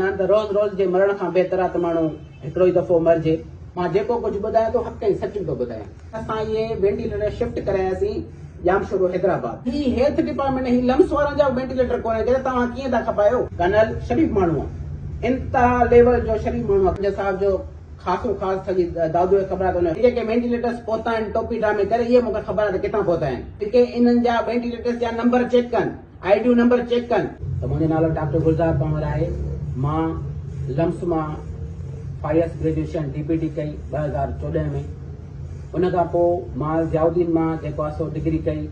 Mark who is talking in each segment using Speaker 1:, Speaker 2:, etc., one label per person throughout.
Speaker 1: نه ته روز روز جي مرڻ کان بهتر آ ته ماڻهو هڪڙو ئي دفعو مرجي. مان جيڪو ڪجهه ٻڌايان ٿو حق ۽ سچ ٿو ٻڌايان. اسان اهي وينٽيليٽر شفٽ ڪراياسين ڄامشورو حيدرآباد. هي هيلٿ ڊپارٽمينٽ ۽ هي لمس وارن جا وينٽيليٽر ڪونهن ڪيا ته توهان ڪيئن ٿا کپايو. ڪرنل شريف ماڻهو آ انتها ليول جو شريف ماڻهو آ خواجه صاحب جو خاصون خاص سڄي دادوء کي خبر آ ته ان جيڪي وينٽيليٽرس پهتا آهن ٽوپي ڊرامي ڪري اهي مونکي خبر آ ته ڪٿان پهتا آهن. جيڪي انهن جا وينٽيليٽرس جا نمبر چيڪ ڪن. آئي ڊيون نمبر چيڪ ڪن. ته منهنجو نالو ڊاڪٽر گلزار پنهور آهي مان لمس مان فائيس گريجوئيشن ڊي پي ٽي ڪئي ٻه هزار چوڏهن ۾ ان کان پوء مان ضياء الدين مان جيڪو آهي سو ڊگري ڪئي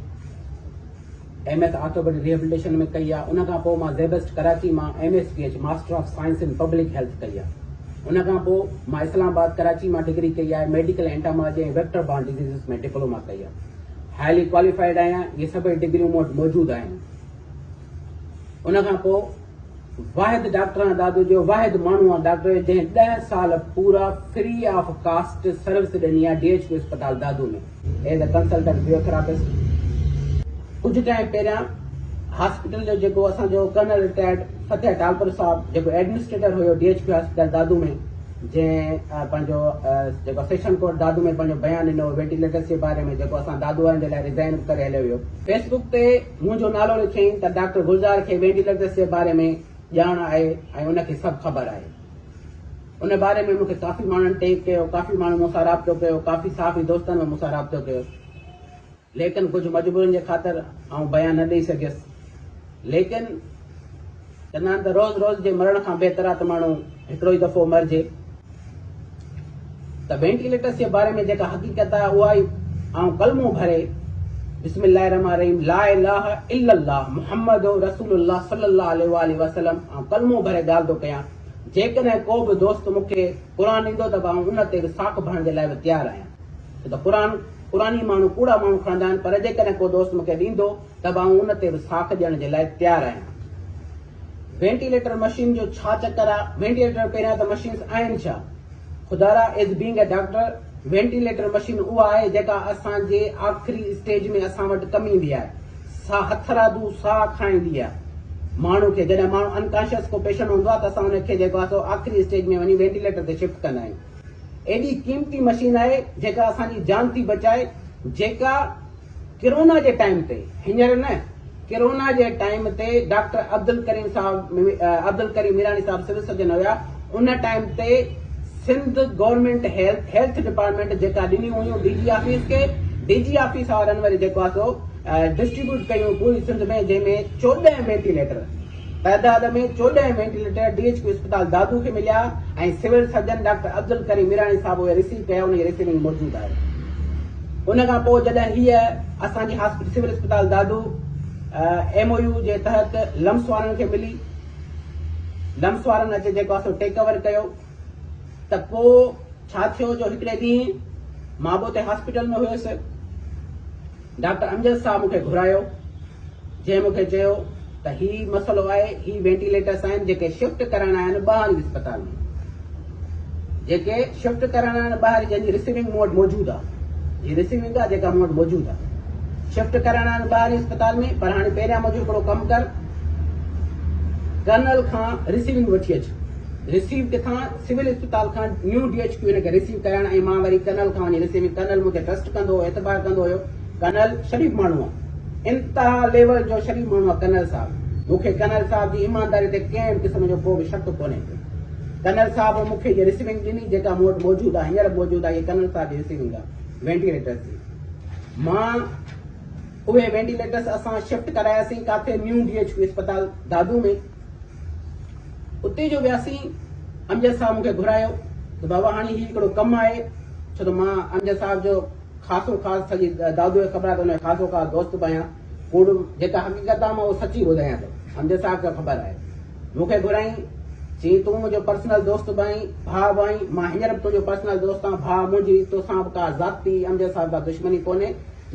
Speaker 1: ايم ايس آرٿوپيڊڪ ريهبليٽيشن ۾ ڪئي آهي ان کان پوء مان زيبسٽ ڪراچي مان M S P H master of science in public health ڪئي آهي ان کان پوء مان اسلام آباد ڪراچي مان ڊگري ڪئي آهي medical entomology ۽ vector borne diseases ۾ diploma ڪئي آهي هائلي ڪواليفائيڊ آهيان اهي سڀئي ڊگريون مون وٽ موجود آهن ان کان پوء واحد ڊاڪٽر آهيان دادو جو واحد ماڻهو آهيان ڊاڪٽر جو جنهن ڏهه سال پورا فري آف ڪاسٽ سروس ڏني آهي ڊي ايچ ڪيو اسپتال Dadu ۾ as a consultant physiotherapist ڪجهه ٽائم پهريان هاسپيٽل جو جيڪو اسان جو ڪرنل رٽائرڊ فتح ٽالپر صاحب جيڪو ايڊمنسٽريٽر هيو D H Q hospital Dadu ۾ جنهن پنهنجو جيڪو سيشن ڪورٽ دادو ۾ پنهنجو بيان ڏنو وينٽيليٽرس جي باري ۾ جيڪو اسان دادو وارن جي لاء ريزائن به ڪري هليو ويو. فيس بڪ تي منهنجو نالو لکيائين ته ڊاڪٽر گلزار کي وينٽيليٽرس جي باري ۾ ڄاڻ آهي ۽ ان کي سڀ خبر آهي. ان باري ۾ مون کي ڪافي ماڻهن ٽيگ ڪيو، ڪافي ماڻهن مون سان رابطو ڪيو، ڪافي صحافي دوستن به مون سان رابطو ڪيو. ليڪن ڪجهه مجبورين جي خاطر آئون بيان نه ڏئي سگهيس. ليڪن چوندا آهن ته روز روز جي مرڻ کان بهتر آهي ته ماڻهو هڪڙو ئي دفعو مرجي. ته وينٽيليٽرس جي باري ۾ جيڪا حقيقت آهي اها ئي آئون ڪلمو ڀري بسم الله الرحمٰن الرحيم لا اله الا الله محمد رسول الله صلي الله عليه واٰله وسلم آئون ڪلمو ڀري ڳالهه ٿو ڪيان. جيڪڏهن ڪو به دوست مون کي قرآن ڏيندو ته به آئون ان تي به ساک ڀرڻ جي لاء به تيار آهيان. ڇو ته قرآن قرآني ماڻهو ڪوڙا ماڻهو کڻندا آهن پر جيڪڏهن ڪو دوست مون کي ڏيندو ته به آئون ان تي به ساک ڏيڻ جي لاء تيار آهيان. وينٽيليٽر مشين جو ڇا چڪر آ وينٽيليٽر پهريان ته مشينس آهن ڇا خدارا as being a doctor ventilator machine اها آهي جيڪا اسان جي آخري اسٽيج ۾ اسان وٽ ڪم ايندي آهي سا هٿرادو ساهه کڻائيندي آهي ماڻهو کي جڏهن ماڻهو انڪانشيس ڪو پيشنٽ هوندو آهي ته اسان ان کي جيڪو آهي سو آخري اسٽيج ۾ وڃي وينٽيليٽر تي شفٽ ڪندا آهيون ايڏي قيمتي مشين آهي جيڪا اسان جي جان ٿي بچائي جيڪا ڪرونا جي ٽائيم تي هينئر نه ڪرونا جي ٽائيم تي ڊاڪٽر عبدالڪريم صاحب عبدالڪريم ميراڻي صاحب سول سرجن هيا ان ٽائيم تي Sindh government health health department جيڪا ڏنيون هيون ڊي جي آفيس کي ڊي جي آفيس وارن وري جيڪو آهي سو ڊسٽريبيوٽ ڪيون پوري سنڌ ۾ جنهن ۾ چوڏهن وينٽيليٽر تعداد ۾ چوڏهن وينٽيليٽر ڊي ايڇ ڪيو اسپتال دادو کي مليا ۽ civil surgeon doctor Abdul Karim Mirani صاحب اهي رسيو ڪيا انهن جي رسيونگ موجود آهي ان کان پوء جڏهن هيء اسان جي هاسپيٽل سول اسپتال دادو ايم او يو جي تحت لمس وارن کي ملي لمس وارن اچي جيڪو اسو ٽيڪ اوور ڪيو ته پوء ڇا ٿيو جو هڪڙي ڏينهن مان به اتي هاسپيٽل ۾ هيس. ڊاڪٽر امجد صاحب مون کي گهرايو، جنهن مون کي چيو ته هي مسئلو آهي، هي وينٽيليٽرس آهن جيڪي شفٽ ڪرڻا آهن ٻاهرين اسپتال ۾، جيڪي شفٽ ڪرڻا آهن ٻاهرين جنهن جي رسيونگ مون وٽ موجود آ، هي رسيونگ آ جيڪا مون وٽ موجود آ، شفٽ ڪرڻا آهن ٻاهرين اسپتال ۾ پر هاڻي پهريان منهنجو هڪڙو ڪم ڪر، ڪرنل کان رسيونگ وٺي اچ. رسيو ڪٿان؟ سول اسپتال کان نيو ڊي ايڇ ڪيو هن کي رسيو ڪيائين ۽ مان وري ڪرنل کان وڃي رسيو ڪيم. ڪرنل مون تي ٽرسٽ ڪندو هو، اعتبار ڪندو هيو. ڪرنل شريف ماڻهو آ. انتها ليول جو شريف ماڻهو آ ڪرنل صاحب. مون کي ڪرنل صاحب جي ايمانداري تي ڪنهن به قسم جو ڪو به شڪ ڪونهي ڪو. ڪرنل صاحب مون کي هيء رسيونگ ڏني جيڪا مون وٽ موجود آ. هينئر به موجود آ. هيء ڪرنل صاحب جي رسيونگ آ وينٽيليٽرس جي. مان اهي وينٽيليٽرس اسان شفٽ ڪراياسين ڪاٿي نيو ڊي ايڇ ڪيو اسپتال دادو ۾. اتي جو وياسين امجد صاحب مون کي گهرايو ته بابا هاڻي هي هڪڙو ڪم آهي ڇو ته مان امجد صاحب جو خاصو خاص سڄي دادوء کي خبر آهي ته ان جو خاصو خاص دوست به آهيان ڪوڙ جيڪا حقيقت آهي مان اهو سچي ٻڌايان ٿو امجد صاحب کي خبر آهي مون کي گهرائين چي تون منهنجو پرسنل دوست به آهين ڀاء به آهين مان هينئر به تنهنجو پرسنل دوست آهيان ڀاء منهنجي توسان به ڪا ذاتي امجد صاحب سان دشمني ڪونهي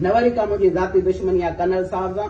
Speaker 1: نه وري ڪا منهنجي ذاتي دشمني آهي ڪرنل صاحب سان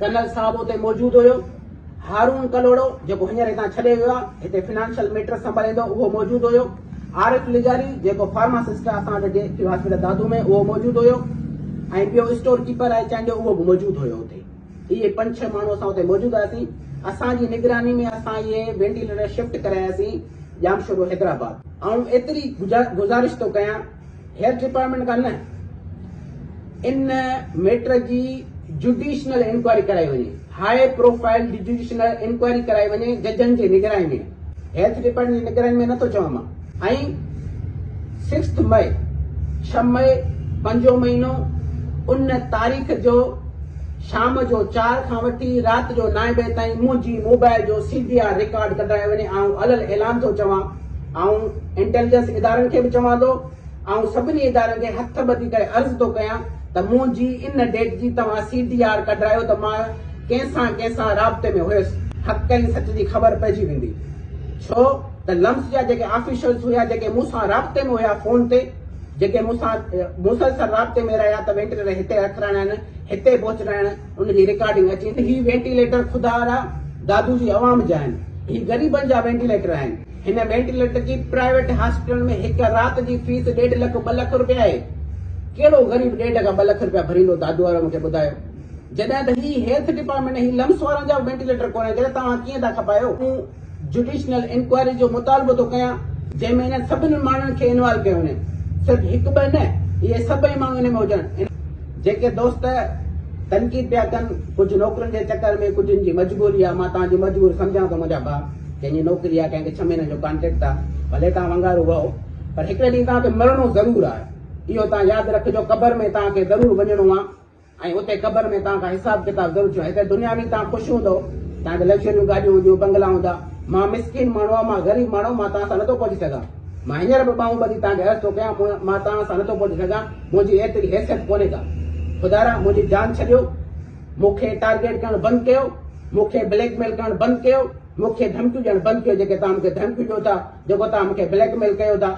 Speaker 1: ڪنل صاحب اتي موجود هيو. هارون ڪلهوڙو جيڪو هينئر هتان ڇڏي ويو آهي، هتي فنانشل ميٽرس سنڀاليندو اهو موجود هيو. عارف لغاري جيڪو فارماسسٽ آهي اسان وٽ جي ايڪ هاسپيٽل دادو ۾ اهو موجود هيو ۽ ٻيو اسٽور ڪيپر آهي چانهه جو اهو به موجود هيو اتي. اهي پنج ڇهه ماڻهو اسان اتي موجود هئاسين. اسان جي نگراني ۾ اسان اهي وينٽيليٽر شفٽ ڪراياسين ڄامشورو حيدرآباد. آئون ايتري گذارش ٿو ڪيان هيلٿ ڊپارٽمينٽ کان نه ان ميٽر جي جڊيشنل انڪوائري ڪرائي وڃي، هاء پروفائل جڊيشنل انڪوائري ڪرائي وڃي ججن جي نگراني ۾ هيلٿ ڊپارٽمينٽ جي نگراني ۾ نه ٿو چوان مان ۽ سڪسٿ مئي ڇهه مئي پنجون مهينو ان تاريخ جو شام جو چار کان وٺي رات جو نائين بجي تائين منهنجي موبائل جو سي ڊي آر رڪارڊ ڪڍرائي وڃي آئون علل اعلان ٿو چوان آئون انٽيليجنس ادارن کي به چوان ٿو، آئون سڀني ادارن کي هٿ ٻڌي ڪري عرض ٿو ڪيان ته منهنجي ان ڊيٽ جي توهان سي ڊي آر ڪڍرايو ته مان ڪنهن سان ڪنهن سان رابطي ۾ هيس، حق ۽ سچ جي خبر پئجي ويندي. ڇو ته لمس جا جيڪي آفيشلز هيا جيڪي مون سان رابطي ۾ هيا فون تي جيڪي مون سان مسلسل رابطي ۾ رهيا ته وينٽيليٽر هتي رکرائڻ هتي پهچرائڻ، ان جي ريڪارڊنگ اچي ته هي وينٽيليٽر خدا را دادو جي عوام جا آهن هي غريبن جا وينٽيليٽر آهن هن وينٽيليٽر جي پرائيويٽ هاسپيٽلن ۾ هڪ رات جي فيس ڏيڍ لک ٻه لک روپيا آهي ڪهڙو غريب ڏيڍ کان ٻه لک روپيا ڀريندو دادو وارو مونکي ٻڌايو جڏهن ته هي هيلٿ ڊپارٽمينٽ هي لمس وارن جا وينٽيليٽر ڪونهن ڪري توهان ڪيئن ٿا کپايو جڊيشنل انڪوائري جو مطالبو ٿو ڪيان جنهن ۾ انهن سڀني ماڻهن کي انوالو ڪيو وڃي صرف هڪ ٻه نه اهي سڀئي ماڻهو ان ۾ هجن جيڪي دوست تنقيد پيا ڪن ڪجهه نوڪرين جي چڪر ۾ ڪجهن جي مجبوري آ مان توهان جي مجبوري سمجهان ٿو منهنجا ڀاء ڪنهن جي نوڪري آ ڪنهن کي ڇهه مهينن جو ڪانٽريڪٽ آ ڀلي توهان ونگارو وهو پر هڪڙي ڏينهن توهان کي مرڻو ضرور آ اهو توهان ياد رکجو قبر ۾ توهان کي ضرور وڃڻو آ ۽ اتي قبر ۾ توهان کان حساب ڪتاب ضرور ٿيندو. هتي دنيا ۾ توهان خوش هوندؤ، توهان کي لگزريون گاڏيون هونديون، بنگلا هوندا. مان مسڪين ماڻهو آهيان، مان غريب ماڻهو، مان توهان سان نٿو پهچي سگهان. مان هينئر به ٻانهون ٻڌي توهان کي عرض ٿو ڪيان، مون مان توهان سان نٿو پهچي سگهان، منهنجي ايتري حيثيت ڪونهي ڪا. خدايا! منهنجي جان ڇڏيو، مون کي ٽارگيٽ ڪرڻ بند ڪيو، مون کي بليڪ ميل ڪرڻ بند ڪيو، مون کي ڌمڪيون ڏيڻ بند ڪيو، جيڪي توهان مون کي ڌمڪيون ڏيو ٿا، جيڪو توهان مون کي بليڪ ميل ڪيو ٿا.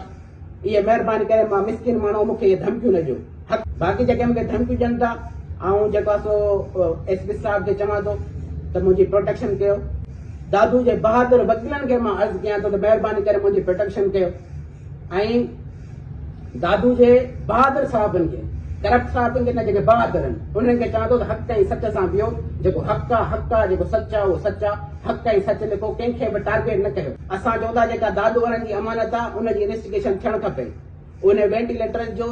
Speaker 1: اي مهرباني ڪري مان مسڪين ماڻهو مون کي اهي ڌمڪيون نه ڏيو حق باقي جيڪي مون کي ڌمڪيون ڏين ٿا آئون جيڪو آهي سو ايس پي صاحب کي چوان ٿو ته منهنجي پروٽيڪشن ڪيو دادو جي بهادر وڪيلن کي مان عرض ڪيان ٿو ته مهرباني ڪري منهنجي پروٽيڪشن ڪيو ۽ دادو جي بهادر صاحبن کي ڪرپٽ صاحبن کي نه جيڪي بهادر آهن انهن کي چوان ٿو ته حق ۽ سچ سان ويو جيڪو حق آ حق آ جيڪو سچ آ اهو سچ آ حق ۽ سچ لکو ڪنهن کي به ٽارگيٽ نه ڪيو. اسان چئون ٿا جيڪا دادو وارن جي امانت آ ان جي انويسٽيگيشن ٿيڻ کپي انهي وينٽيليٽرز جو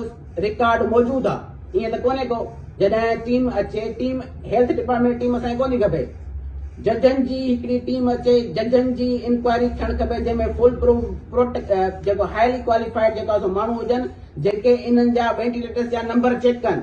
Speaker 1: رڪارڊ موجود آ ائين ته ڪونهي ڪو جڏهن ٽيم اچي ٽيم هيلٿ ڊپارٽمينٽ ٽيم اسان کي ڪونهي کپي ججن جي هڪڙي ٽيم اچي ججن جي انڪوائري ٿيڻ کپي جنهن ۾ فول پروف پروٽ جيڪو هائلي ڪواليفائيڊ جيڪو آ سو ماڻهو هجن جيڪي انهن جا وينٽيليٽرز جا نمبر چيڪ ڪن.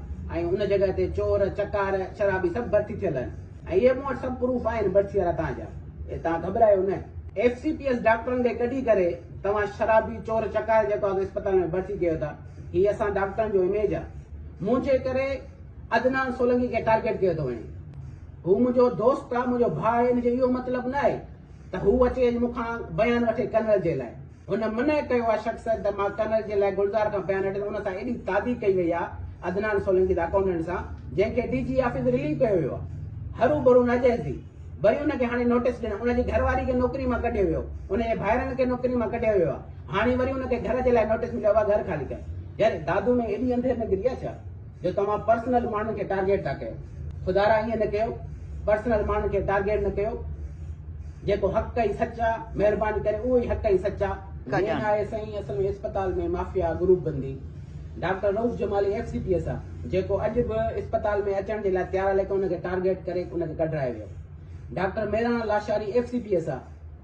Speaker 1: ۽ ان جڳهه تي چور، چڪار، شرابي سڀ ڀرتي ٿيل آهن ۽ اهي مون وٽ سڀ پروف آهن ڀرتي وارا توهان جا ۽ توهان گهٻرايو نه. ايف سي پي ايس ڊاڪٽرن کي ڪڍي ڪري توهان شرابي، چور، چڪار جيڪو آهي اسپتال ۾ ڀرتي ڪيو ٿا هي اسان ڊاڪٽرن جو اميج آهي. منهنجي ڪري عدنان سولنگي کي ٽارگيٽ ڪيو ٿو وڃي. هو منهنجو دوست آهي، منهنجو ڀاء آهي ان جو اهو مطلب نه آهي ته هو اچي مون کان بيان وٺي ڪنول جي لاء. هن منع ڪيو اها شخص ته مان ڪرنل جي لاء گلزار کان بيان هٽي ته ان سان ايڏي تعدي ڪئي وئي آهي عدنان سولنگي ته اڪائونٽنٽ سان جنهن کي ڊي جي آفيس رليو ڪيو ويو آهي هرو برو نه جهل ٿي وري ان کي هاڻي نوٽيس ڏنو ان جي گهر واري کي نوڪري مان ڪڍيو ويو ان جي ڀائرن کي نوڪري مان ڪڍيو ويو آهي هاڻي وري ان کي گهر جي لاء نوٽيس مليو آهي گهر خالي ڪر يار دادو ۾ ايڏي انڌير نگري آهي ڇا. جو توهان پرسنل ماڻهن کي ٽارگيٽ ٿا ڪيو خدارا ائين نه ڪيو پرسنل ماڻهن کي ٽارگيٽ نه ڪيو جيڪو حق ۽ سچ آ مهرباني ڪري اهو ئي حق ۽ سچ آ ڪجان نه آهي سائين اصل ۾ اسپتال ۾ مافيا گروپ بندي doctor Rauf Jamali F C P S آ جيڪو اڄ به اسپتال ۾ اچڻ جي لاء تيار آ ليڪن ان کي ٽارگيٽ ڪري ان کي ڪڍرائي ويو doctor Mirani Lashari F C P S آ